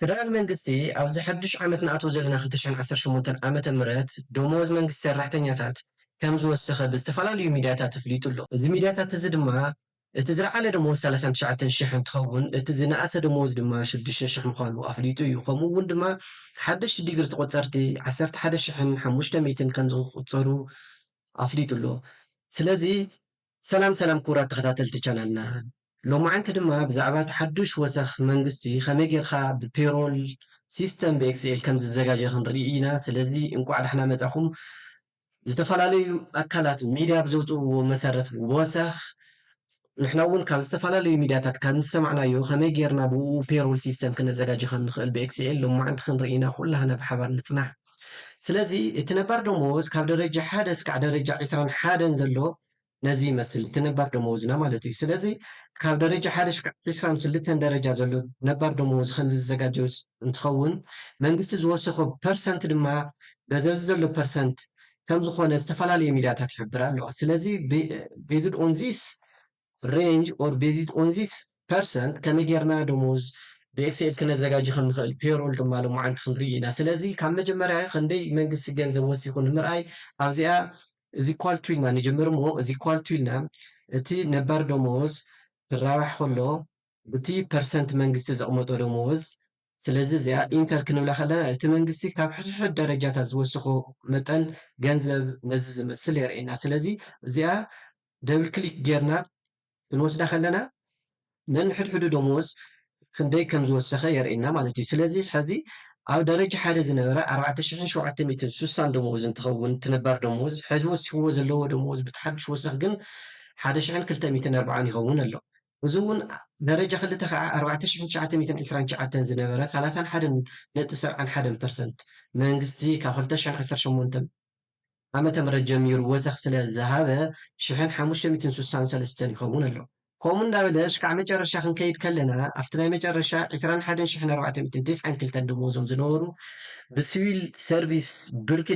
ፈደራል መንግስቲ ኣብዚ ሓዱሽ ዓመት ንኣትዎ ዘለና ክልተሸን ዓሰርተ ሸሞንተን ዓመተ ምህረት ደሞዝ መንግስቲ ሰራሕተኛታት ከም ዝወሰኸ ብዝተፈላለዩ ሚድያታት እፍሊጡ ኣሎ። እዚ ሚድያታት እዚ ድማ እቲ ዝለዓለ ደሞዝ ሰላሳን ትሽዓተን ሽሕ እንትኸውን እቲ ዝነኣሰ ደሞዝ ድማ ሽዱሽተ ሽሕ ምዃኑ ኣፍሊጡ እዩ። ከምኡ እውን ድማ ሓደሽቲ ዲግሪ ተቖፀርቲ ዓሰርተ ሓደ ሽሕን ሓሙሽተ ሚእትን ከም ዝቑፀሩ ኣፍሊጡ ኣሎ። ስለዚ። ሰላም ሰላም ክቡራት ተኸታተልቲ ቻናልና ሎማዓንቲ ድማ ብዛዕባ እቲ ሓዱሽ ወሰኽ መንግስቲ ከመይ ጌርካ ብፔሮል ሲስተም ብኤክስኤል ከምዝዘጋጀ ክንርኢ ኢና ስለዚ እንቋዕ ዳሕና መጻኹም ዝተፈላለዩ ኣካላት ሚድያ ብዘውጽእዎ መሰረት ወሰኽ ንሕና እውን ካብ ዝተፈላለዩ ሚድያታት ካብ ዝሰማዕናዮ ከመይ ጌርና ብኡ ፔሮል ሲስተም ክነዘጋጅ ከም ንኽእል ብኤክስኤል ሎማዓንቲ ክንርኢ ኢና ኩላህና ብሓባር ንጽናሕ ስለዚ እቲ ነባር ደመወዝ ካብ ደረጃ ሓደ እስካዕ ደረጃ ዕስራን ሓደን ዘሎ ነዚ ይመስል እቲ ነባር ደመወዝና ማለት እዩ። ስለዚ ካብ ደረጃ ሓደ እስካዕ ዕስራን ክልተን ደረጃ ዘሎ ነባር ደመወዝ ከምዚ ዝዘጋጀው እንትኸውን መንግስቲ ዝወሰኾ ፐርሰንት ድማ በዚ ኣብዚ ዘሎ ፐርሰንት ከምዝኾነ ዝተፈላለየ ሚድያታት ይሕብራ ኣለዋ። ስለዚ ቤዝድ ኦን ዚስ ሬንጅ ኦር ቤዝድ ኦን ዚስ ፐርሰን ከመይ ጌርና ደሞዝ ብኤክሴል ክነዘጋጂ ከም ንኽእል ፔሮል ድማ ሎማዓንቲ ክንርኢ ኢና ስለዚ ካብ መጀመርያ ክንደይ መንግስቲ ገንዘብ ወሲኹ ንምርኣይ ኣብዚኣ እዚ ኢኳል ቱ ኢልና ንጅምር እሞ እዚ ኢኳል ቱ ኢልና እቲ ነባር ደሞዝ ክራባሕ ከሎ ብቲ ፐርሰንት መንግስቲ ዘቕመጦ ደመወዝ፣ ስለዚ እዚኣ ኢንተር ክንብላ ከለና እቲ መንግስቲ ካብ ሕድሕድ ደረጃታት ዝወስኾ መጠን ገንዘብ ነዚ ዝመስል የርእየና። ስለዚ እዚኣ ደብል ክሊክ ጌርና ክንወስዳ ከለና ነንሕድሕዱ ደመወዝ ክንደይ ከም ዝወሰኸ የርእየና ማለት እዩ። ስለዚ ሕዚ ኣብ ደረጃ ሓደ ዝነበረ ኣርባዕተ ሽሕን ሸውዓተ ሚእትን ስሳን ደመወዝ እንትኸውን እቲ ነባር ደመወዝ፣ ሕዚ ወሲኽዎ ዘለዎ ደመወዝ ብቲ ሓዱሽ ወሰኽ ግን ሓደ ሽሕን ክልተ ሚእትን ኣርብዓን ይኸውን ኣሎ። እዚ እውን ደረጃ ክልተ ከዓ ኣርባዕተ ሽሕን ትሽዓተ ሚእትን ዕስራን ትሽዓተን ዝነበረ ሰላሳን ሓደን ነጥቢ ሰብዓን ሓደን ፐርሰንት መንግስቲ ካብ ክልተ ሽሕን ዓሰርተ ሸሞንተን ዓመተ ምህረት ጀሚሩ ወሰኽ ስለ ዝሃበ ሽሕን ሓሙሽተ ሚእትን ስሳን ሰለስተን ይኸውን ኣሎ። ከምኡ እንዳበለ እስካዕ መጨረሻ ክንከይድ ከለና ኣብቲ ናይ መጨረሻ ዕስራን ሓደን ሽሕን ኣርባዕተ ሚእትን ተስዓን ክልተን ደመወዞም ዝነበሩ ብስቪል ሰርቪስ ብርኪ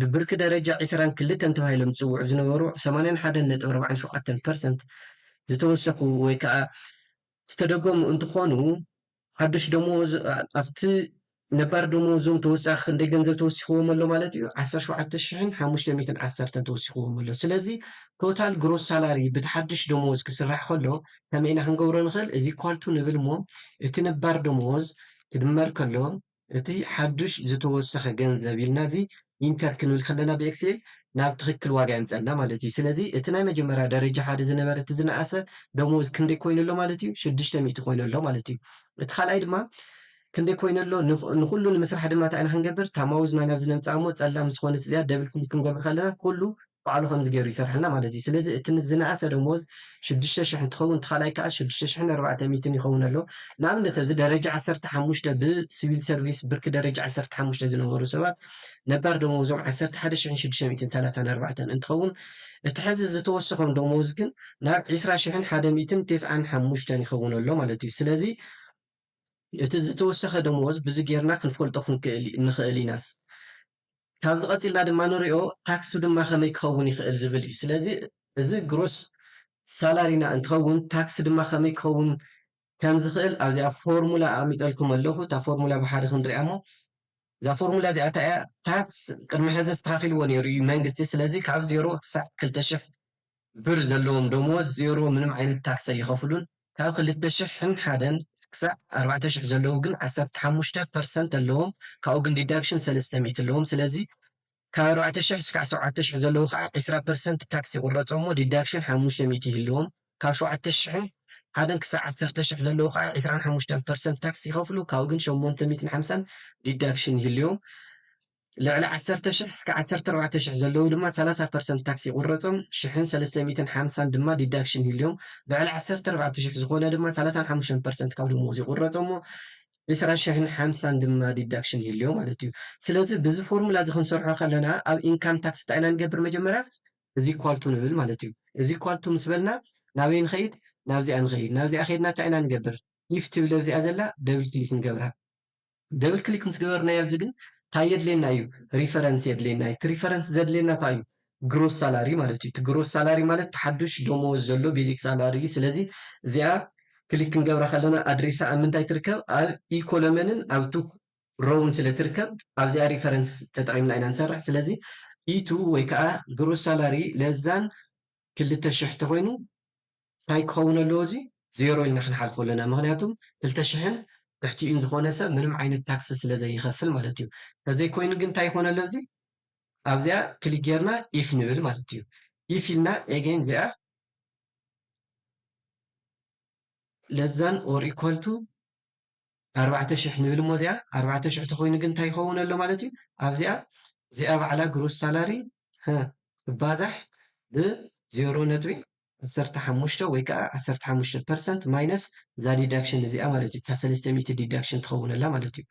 ብብርኪ ደረጃ ዕስራን ክልተን ተባሂሎም ዝፅውዑ ዝነበሩ ሰማንያን ሓደን ነጥቢ ኣርባዓን ሸውዓተን ፐርሰንት ዝተወሰኹ ወይ ከኣ ዝተደገሙ እንትኾኑ ሓዱሽ ደመወዝ ኣብቲ ነባር ደመወዞም ተወሳኺ ክንደይ ገንዘብ ተወሲኽዎም ኣሎ ማለት እዩ? ዓሰርተ ሸውዓተ ሽሕን ሓሙሽተ ሚእትን ዓሰርተን ተወሲኽዎም ኣሎ። ስለዚ ቶታል ግሮስ ሳላሪ ብቲ ሓዱሽ ደመወዝ ክስራሕ ከሎ ከመይ ኢና ክንገብሮ ንኽእል? እዚ ኢኳል ቱ ንብል እሞ እቲ ነባር ደመወዝ ክድመር ከሎ እቲ ሓዱሽ ዝተወሰኸ ገንዘብ ኢልና እዚ ኢንተር ክንብል ከለና ብኤክሴል ናብ ትኽክል ዋጋ የምፀልና ማለት እዩ። ስለዚ እቲ ናይ መጀመርያ ደረጃ ሓደ ዝነበረ እቲ ዝነኣሰ ደሞዝ ክንደይ ኮይኑ ኣሎ ማለት እዩ? ሽዱሽተ ሚእቲ ኮይኑ ኣሎ ማለት እዩ። እቲ ካልኣይ ድማ ክንደይ ኮይኑ ኣሎ ንኹሉ ንምስራሕ ድማ እንታይ ኢና ክንገብር ታማውዝና ናብዚ ነምፅኣ እሞ ፀላም ምስ ዝኾነት እዚኣ ደብል ክሊክ ክንገብር ከለና ኩሉ ባዕሉ ከምዚ ገይሩ ይሰርሐልና ማለት እዩ ስለዚ እቲ ዝነኣሰ ደሞዝ ሽዱሽተ ሽሕ እንትኸውን እቲ ካልኣይ ከዓ ሽዱሽተ ሽሕን ኣርባዕተ ሚእትን ይኸውን ኣሎ ንኣብነት ኣብዚ ደረጃ ዓሰርተ ሓሙሽተ ብሲቪል ሰርቪስ ብርኪ ደረጃ ዓሰርተ ሓሙሽተ ዝነበሩ ሰባት ነባር ደሞዞም ዓሰርተ ሓደ ሽሕን ሽዱሽተ ሚእትን ሰላሳን ኣርባዕተን እንትኸውን እቲ ሕዚ ዝተወሰኾም ደሞዝ ግን ናብ ዒስራ ሽሕን ሓደ ሚእትን ቴስዓን ሓሙሽተን ይኸውን ኣሎ ማለት እዩ ስለዚ እቲ ዝተወሰኸ ደሞዝ ብዚ ጌርና ክንፈልጦ ክንክእል ንኽእል ኢናስ ካብዚ ቀጺልና ድማ ንሪኦ ታክሱ ድማ ከመይ ክኸውን ይኽእል ዝብል እዩ። ስለዚ እዚ ግሮስ ሳላሪና እንትኸውን ታክሲ ድማ ከመይ ክኸውን ከም ዝኽእል ኣብዚኣ ፎርሙላ ኣቐሚጠልኩም ኣለኹ። እታ ፎርሙላ ብሓደ ክንሪኣ እሞ እዛ ፎርሙላ እዚኣ እንታይ እያ? ታክስ ቅድሚ ሕዚ ኣስተኻኺልዎ ነይሩ እዩ መንግስቲ። ስለዚ ካብ ዜሮ ክሳዕ ክልተ ሽሕ ብር ዘለዎም ደመወዝ ዜሮ ምንም ዓይነት ታክስ ኣይኸፍሉን ካብ ክልተ ሽሕን ሓደን ክሳዕ ኣርባዕተ ሽሕ ዘለዉ ግን ዓሰርተ ሓሙሽተ ፐርሰንት ኣለዎም ካብኡ ግን ዲዳክሽን ሰለስተ ሚእቲ ኣለዎም ስለዚ ካብ ኣርባዕተ ሽሕ እስካዕ ሸውዓተ ሽሕ ዘለዉ ከዓ ዕስራ ፐርሰንት ታክስ ይቁረፆም እሞ ዲዳክሽን ሓሙሽተ ሚእቲ ይህልዎም ካብ ሸውዓተ ሽሕን ሓደን ክሳዕ ዓሰርተ ሽሕ ዘለዉ ከዓ ዕስራን ሓሙሽተን ፐርሰንት ታክስ ይኸፍሉ ካብኡ ግን ሸሞንተ ሚእትን ሓምሳን ዲዳክሽን ይህልዎም ልዕሊ ዓሰርተ ሽሕ እስከ ዓሰርተ ኣርባዕተ ሽሕ ዘለዉ ድማ ሰላሳ ፐርሰንት ታክስ ይቑረጾም፣ ሽሕን ሰለስተ ሚእትን ሓምሳን ድማ ዲዳክሽን ይህልዮም፣ ልዕሊ ዓሰርተ ኣርባዕተ ሽሕ ዝኾነ ድማ ሰላሳን ሓሙሽተን ፐርሰንት ካብ ደሞዙ ይቑረጾ'ሞ ዕስራ ሽሕን ሓምሳን ድማ ዲዳክሽን ይህልዮ ማለት እዩ። ስለዚ ብዚ ፎርሙላ እዚ ክንሰርሖ ከለና ኣብ ኢንካም ታክስ እንታይ ኢና ንገብር መጀመርያ እዚ ኢኳል ቱ ንብል ማለት እዩ። እዚ ኢኳል ቱ ምስ በልና ናበይ ንኸይድ ናብዚኣ ንኸይድ፣ ናብዚኣ ከይድና እንታይ ኢና ንገብር ኢፍ ትብል ኣብዚኣ ዘላ ደብል ክሊክ ንገብራ፣ ደብል ክሊክ ምስ ገበርናዮ ኣብዚ ግን ታይ የድልየና እዩ ሪፈረንስ የድልየና እዩ እቲ ሪፈረንስ ዘድልየና እንታይ እዩ ግሮስ ሳላሪ ማለት እዩ እቲ ግሮስ ሳላሪ ማለት እቲ ሓዱሽ ደሞዝ ዘሎ ቤዚክ ሳላሪ እዩ ስለዚ እዚኣ ክሊክ ክንገብራ ከለና ኣድሬሳ ኣብ ምንታይ ትርከብ ኣብ ኢ ኮለመንን ኣብ ቱ ሮውን ስለ ትርከብ ኣብዚኣ ሪፈረንስ ተጠቒምና ኢና ንሰርሕ ስለዚ ኢቱ ወይ ከዓ ግሮስ ሳላሪ ለዛን ክልተ ሽሕ ተኾይኑ ታይ ክኸውን ኣለዎ እዚ ዜሮ ኢልና ክንሓልፎ ኣለና ምኽንያቱ ክልተ ሽሕን ትሕቲኡን ዝኾነ ሰብ ምንም ዓይነት ታክሲ ስለ ዘይኸፍል ማለት እዩ ተዘይ ኮይኑ ግን ታይ ይኾን ኣሎ እዚ ኣብዚኣ ክሊክ ጌርና ኢፍ ንብል ማለት እዩ ኢፍ ኢልና ኤገይን እዚኣ ለዛን ኦር ኢኳል ቱ ኣርባዕተ ሽሕ ንብል እሞ እዚኣ ኣርባዕተ ሽሕ ተኮይኑ ግን እንታይ ይከውን ኣሎ ማለት እዩ ኣብዚኣ እዚኣ ባዕላ ግሩስ ሳላሪ ህ ትባዛሕ ብ ዜሮ ነጥቢ ዓሰርተ ሓሙሽተ ወይ ከዓ ዓሰርተ ሓሙሽተ ፐርሰንት ማይነስ እዛ ዲዳክሽን እዚኣ ማለት እዩ እታ ሰለስተ ሚእቲ ዲዳክሽን ትከውን ኣላ ማለት እዩ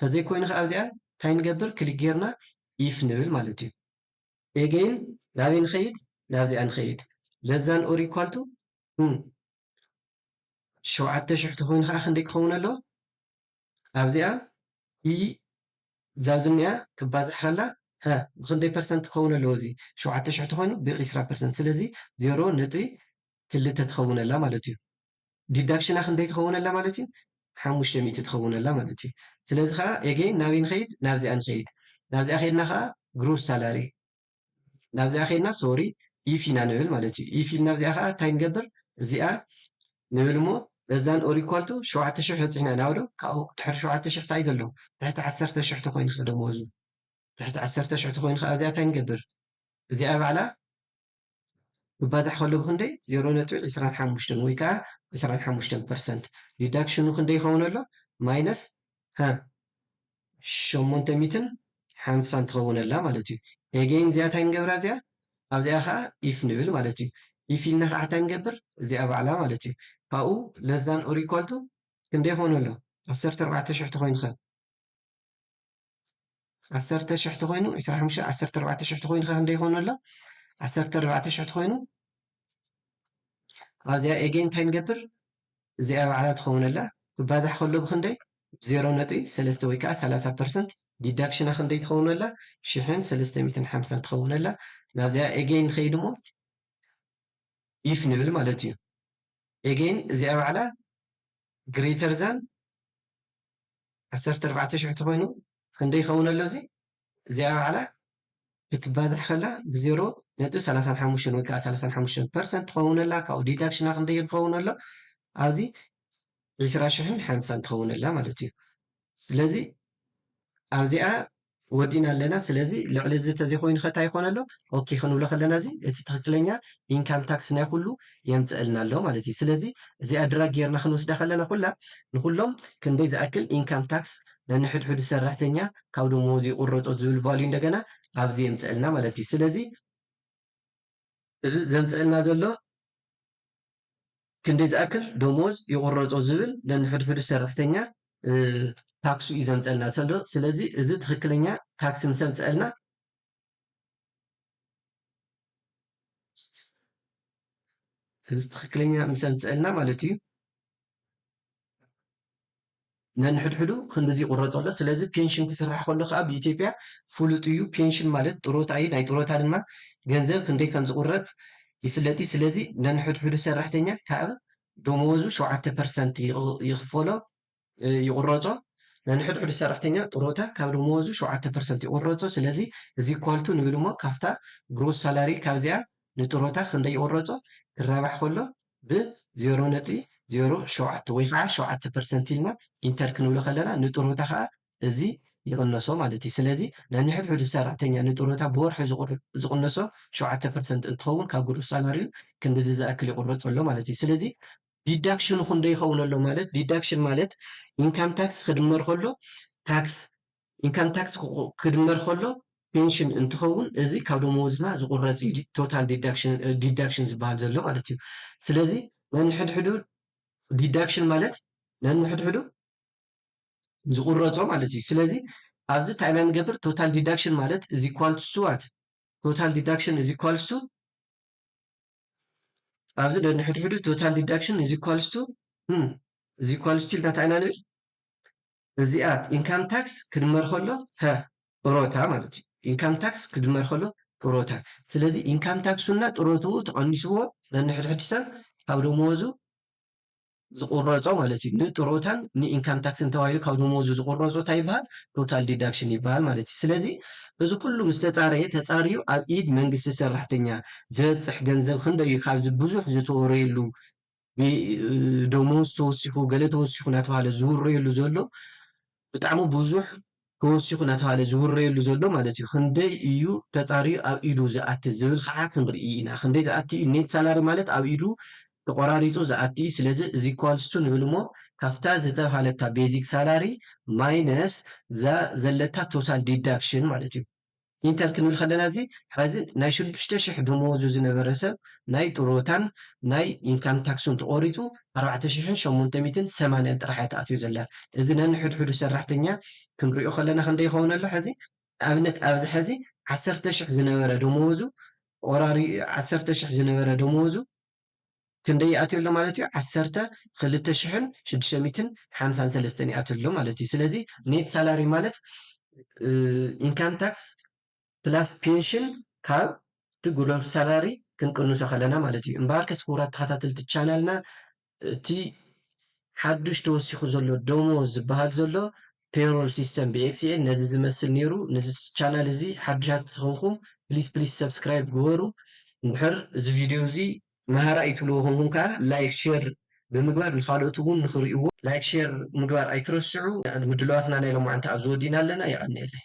ተዘይ ኮይኑ ከዓ ኣብዚኣ እንታይ ንገብር ክሊክ ጌርና ኢፍ ንብል ማለት እዩ ኤገይን ናበይ ንከይድ ናብዚኣ ንከይድ ለዛን ኦር ኢኳልቱ ሸውዓተ ሽሕ ተኾይኑ ከዓ ክንደይ ክኸውን ኣለዎ? ኣብዚኣ ብ እዛ ኣብዚ ዝኒኣ ክባዛሕ ከላ ሀ ብኽንደይ ፐርሰንት ክኸውን ኣለዎ እዚ ሸውዓተ ሽሕ ተኾይኑ ብ ዕስራ ፐርሰንት ስለዚ ዜሮ ነጥቢ ክልተ ትኸውን ኣላ ማለት እዩ። ዲዳክሽና ክንደይ ትኸውን ኣላ ማለት እዩ? ሓሙሽተ ሚእቲ ትኸውን ኣላ ማለት እዩ። ስለዚ ከዓ ኤጌይን ናበይ ንኸይድ ናብዚኣ ንኸይድ ናብዚኣ ከይድና ከዓ ግሮስ ሳላሪ፣ ናብዚኣ ከይድና ሶሪ ኢፍ ኢና ንብል ማለት እዩ ኢፍ ኢልና ኣብዚኣ ከዓ እንታይ ንገብር እዚኣ ንብል እሞ በዛን ኦር ኢኳል ቱ ሸውዓተ ሽሕ በፂሕና ኢና ዶ ካብኡ ድሕሪ ሸውዓተ ሽሕ እንታይ ዘሎ ትሕቲ ዓሰርተ ሽሕ ተኮይኑ ከ ደመወዙ ትሕቲ ዓሰርተ ሽሕ ተኮይኑ ከዓ እዚኣ እንታይ ንገብር እዚኣ ባዕላ ክባዛሕ ከሎ ብኽንደይ ዜሮ ነጥቢ ዕስራን ሓሙሽተን ወይ ከኣ ዕስራን ሓሙሽተን ፐርሰንት ዲዳክሽኑ ክንደይ ይኸውን ኣሎ ማይነስ ሃ ሸሞንተ ሚእትን ሓምሳን ትኸውን ኣላ ማለት እዩ ኤገይን እዚኣ እንታይ ንገብራ እዚኣ ኣብዚኣ ከኣ ኢፍ ንብል ማለት እዩ ኢፍ ኢልና ከኣ እንታይ ንገብር እዚኣ ባዕላ ማለት እዩ ካብኡ ለዛን ኦር ኢኳል ቱ ክንደይ ይኸውን ኣሎ ዓሰርተ ኣርባዕተ ሽሕ ተኾይኑ ከ ዓሰርተ ሽሕ ተኾይኑ ዕስራ ሓሙሽተ ዓሰርተ ኣርባዕተ ሽሕ ተኾይኑ ከ ክንደይ ይኾን ኣሎ ዓሰርተ ኣርባዕተ ሽሕ ተኾይኑ ኣብዚኣ ኤጌን እንታይ ንገብር እዚኣ ባዕላ ትኸውን ኣላ ክባዛሕ ከሎ ብክንደይ ዜሮ ነጥቢ ሰለስተ ወይ ከዓ ሰላሳ ፐርሰንት ዲዳክሽና ክንደይ ትኸውን ኣላ ሽሕን ሰለስተ ሚትን ሓምሳን ትኸውን ኣላ ናብዚኣ ኤጌን ንኸይድ እሞ ኢፍ ንብል ማለት እዩ ኤጌይን እዚኣ ባዕላ ግረይተር ዛን ዓሰርተ ኣርባዕተ ሽሕ ተኾይኑ ክንደይ ይኸውን ኣሎ እዚ እዚኣ ባዕላ ክትባዛሕ ከላ ብዜሮ ነጥቢ ሰላሳን ሓሙሽተን ወይ ከዓ ሰላሳን ሓሙሽተን ፐርሰንት ትኸውን ኣላ ካብኡ ዲዳክሽና ክንደይ ክኸውን ኣሎ ኣብዚ ዒስራ ሽሕን ሓምሳን ትኸውን ኣላ ማለት እዩ ስለዚ ኣብዚኣ ወዲእና ኣለና ስለዚ ልዕሊ እዚ ተዘይኮይኑ ከ ታይ ይኾን ኣሎ ኦኬ ክንብሎ ከለና እዚ እቲ ትክክለኛ ኢንካም ታክስ ናይ ኩሉ የምፀእልና ኣሎ ማለት እዩ ስለዚ እዚኣ ድራግ ጌርና ክንወስዳ ከለና ኩላ ንኩሎም ክንደይ ዝኣክል ኢንካም ታክስ ነንሕድሕዱ ሰራሕተኛ ካብ ደሞዙ ይቁረጦ ዝብል ቫልዩ እንደገና ኣብዚ የምፀእልና ማለት እዩ ስለዚ እዚ ዘምጸእልና ዘሎ ክንደይ ዝኣክል ደሞዝ ይቁረጾ ዝብል ነንሕድሕዱ ሰራሕተኛ ታክሱ እዩ ዘምጸእልና ሰሎ ስለዚ እዚ ትክክለኛ ታክሲ ምስ ኣምጸእልና እዚ ትክክለኛ ምስ ኣምጸእልና ማለት እዩ ነንሕድሕዱ ክንድዚ ይቑረጾ ኣሎ። ስለዚ ፔንሽን ክስራሕ ከሎ ከኣ ብኢትዮጵያ ፍሉጥ እዩ። ፔንሽን ማለት ጥሮታ እዩ። ናይ ጥሮታ ድማ ገንዘብ ክንደይ ከም ዝቑረጽ ይፍለጥ እዩ። ስለዚ ነንሕድሕዱ ሰራሕተኛ ካብ ደመወዙ ሸውዓተ ፐርሰንት ይኽፈሎ፣ ይቑረጾ። ነንሕድሕዱ ሰራሕተኛ ጥሮታ ካብ ደመወዙ ሸውዓተ ፐርሰንት ይቑረጾ። ስለዚ is equal to ንብል እሞ ካብታ ግሮስ ሳላሪ ካብዚኣ ንጥሮታ ክንደይ ይቑረጾ ክራባሕ ከሎ ብ ዜሮ ነጥቢ ዜሮ ሸውዓተ ወይ ኸዓ ሸውዓተ ፐርሰንት ኢልና ኢንተር ክንብሎ ከለና ንጥሮታ ኸዓ እዚ ይቕነሶ ማለት እዩ። ስለዚ ነንሕድሕዱ ሰራሕተኛ ንጥሮታ ብወርሒ ዝቕነሶ ሸውዓተ ፐርሰንት እንትኸውን ካብ ግሩስ ሳላሪኡ ክንድዚ ዝኣክል ይቑረፆ ኣሎ ማለት እዩ። ስለዚ ዲዳክሽኑ ክንደይ ይኸውን ኣሎ ማለት ዲዳክሽን ማለት ኢንካም ታክስ ክድመር ከሎ ታክስ ኢንካም ታክስ ክድመር ከሎ ፔንሽን እንትኸውን እዚ ካብ ደመወዝና ዝቑረፅ እዩ ቶታል ዲዳክሽን ዝበሃል ዘሎ ማለት እዩ። ስለዚ ነንሕድሕዱ ዲዳክሽን ማለት ነንሕድሕዱ ዝቑረፆ ማለት እዩ። ስለዚ ኣብዚ እንታይ ኢና ንገብር ቶታል ዲዳክሽን ማለት እዚ ኳልትሱ ዋት ቶታል ዲዳክሽን እዚ ኳልስቱ ኣብዚ ነንሕድሕዱ ቶታል ዲዳክሽን እዚ ኳልስቱ እዚ ኳልስቱ ኢልና እንታይ ኢና ንብል እዚኣ ኢንካም ታክስ ክድመር ከሎ ፐ ጥሮታ ማለት እዩ። ኢንካም ታክስ ክድመር ከሎ ጥሮታ ስለዚ ኢንካም ታክሱና ጥሮትኡ ተቐኒስዎ ነንሕድሕድ ሰብ ካብ ደመወዙ ዝቑረፆ ማለት እዩ። ንጥሮታን ንኢንካም ታክስን ተባሂሉ ካብ ደመወዙ ዝቑረፆ እንታይ ይበሃል? ቶታል ዲዳክሽን ይበሃል ማለት እዩ። ስለዚ እዚ ኩሉ ምስ ተፃረየ ተፃርዩ ኣብ ኢድ መንግስቲ ሰራሕተኛ ዝበፅሕ ገንዘብ ክንደይ እዩ ካብዚ ብዙሕ ዝተወረየሉ ብደሞዝ ተወሲኹ ገለ ተወሲኹ እናተባህለ ዝውረየሉ ዘሎ ብጣዕሚ ብዙሕ ተወሲኹ እናተባህለ ዝውረየሉ ዘሎ ማለት እዩ ክንደይ እዩ ተፃርዩ ኣብ ኢዱ ዝኣቲ ዝብል ከዓ ክንርኢ ኢና ክንደይ ዝኣቲ እዩ ኔት ሳላሪ ማለት ኣብ ኢዱ ተቆራሪፁ ዝኣቲ እዩ ስለዚ እዚ ኳልስቱ ንብል እሞ ካብታ ዝተብሃለታ ቤዚክ ሳላሪ ማይነስ እዛ ዘለታ ቶታል ዲዳክሽን ማለት እዩ ኢንተር ክንብል ከለና እዚ ሐዚ ናይ ሽዱሽተ ሽሕ ደመወዙ ዝነበረ ሰብ ናይ ጥሮታን ናይ ኢንካም ታክሱን ተቆሪፁ ኣርባዕተ ሽሕን ሸሞንተ ሚእትን ሰማንያን ጥራሕ እያ ተኣትዮ ዘላ እዚ ነንሕድሕዱ ሰራሕተኛ ክንሪኦ ከለና ክንደይ ይከውን ኣሎ ሐዚ ንኣብነት ኣብዚ ሐዚ ዓሰርተ ሽሕ ዝነበረ ደመወዙ ቆራሪ ዓሰርተ ሽሕ ዝነበረ ደመወዙ ክንደይ ይኣትዮ ኣሎ ማለት እዩ ዓሰርተ ክልተ ሽሕን ሽዱሽተ ሚእትን ሓምሳን ሰለስተን ይኣትዮ ኣሎ ማለት እዩ ስለዚ ኔት ሳላሪ ማለት ኢንካም ታክስ ፕላስ ፔንሽን ካብ እቲ ግሮስ ሳላሪ ክንቅንሶ ከለና ማለት እዩ እምበኣር ከስ ክቡራት ተኸታተልቲ ቻናልና እቲ ሓዱሽ ተወሲኹ ዘሎ ደሞዝ ዝበሃል ዘሎ Payroll System ብXL ነዚ ዝመስል ኔሩ ንዚ ቻናል እዚ ሓዱሻት ትኾንኩም ፕሊስ ፕሊስ ሰብስክራይብ ግበሩ እንድሕር እዚ ቪድዮ እዚ መሃራ እዩ ትብልዎ ኮንኩም ከኣ ላይክ ሼር ብምግባር ንኻልኦት ውን ንኽሪእዎ ላይክ ሼር ምግባር ኣይትረስዑ ምድላዋትና ናይ ሎማዓንቲ ኣብዚ ወዲእና ኣለና የቐንየለይ።